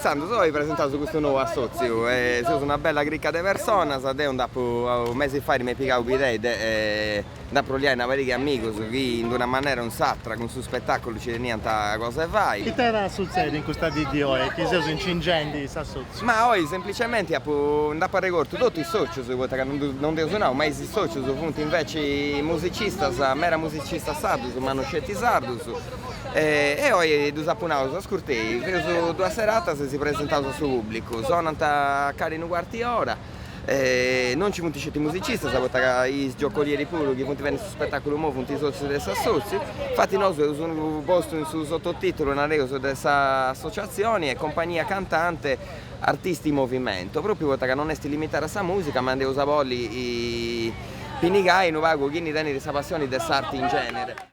Intzandus oi presentaus custu nou assòtziu, seus una bella crica de personas, deu nd'apu mesi fait m'est pigau s'idea de nd'aproviai una pariga 'e amigus chi in una manera o in s'atra cun su spetàculu nci teniant cosa 'e fai. Ite at a sutzedi in custa dì di oi chi seus incingendi s'assòtziu? Ma oi semplicemente apu, nd'apu arregortu totu is socius, poita ca non dd'eus nau, ma is socius funt inveci musicistas, mera musicistas sardus, ma no sceti sardus, e oi ddus apu naus, ascurtai, feus duas seratas e si presentaus a su pubblicu, sonant calincunu cuarti ora, non nci funt sceti musicistas poita ca is giocolieri puru chi funt biendi su spetaculu imoi funt sotzius de s'assotziu, infati nosu eus postu in su sototitulu nareus de sa associazioni est compagnia cantante artisti in movimento, propriu poita ca non est limitada a sa musica ma nd'eus a bolli pinigai unu pagu chini tenit sa passioni de s'arti in genere.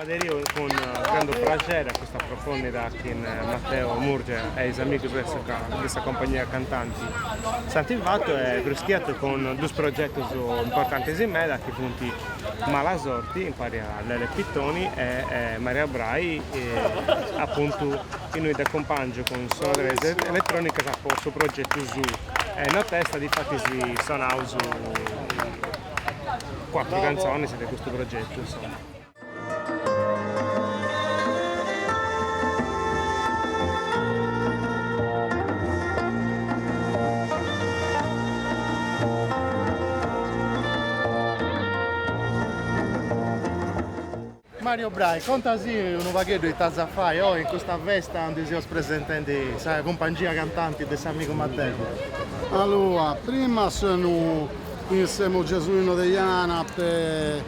Aderiu cun grandu praxeri a custa proposta chi Matteo Murgia e is amigus de sa compagnia cantanti si ant fatu e prus che atru cun duus progetus importantis meda chi funt Malasorti impari a Lele Pittoni e Mario Brai apuntu innui dd'acumpangiu cun sonoredas eletrònicas po su progetu suu e notesta difatis sonaus cuatru cantzonis de custu progetu insoma. Mario Brai, conta si unu pagheddu ite as a fai oi in custa festa andi seus presentendi sa cumpangia cantanti de s'amigu Matteu? Aloa, prima senu in siemo Gesuino Deiana,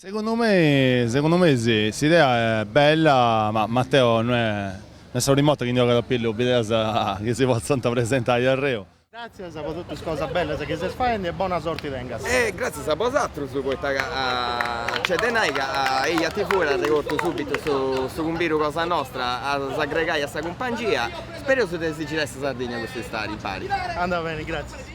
Segundu me segundu me si, s'idea est bella ma Matteo no est sa primu 'orta chi ndi ogat a pillu bideas chi si potzant presentai a arreu. Gràtzias po totu is cosas bellas chi ses faendi e bona sorti tengas. E gràtzias a bosatrus poita ca nc'est de nai ca EjaTV at arregortu subitu su cumbidu cosa nostra a s'aggregai a sa cumpangia. Spereus de si girai sa Sardigna custu istadi impari. Andat beni, gràtzias.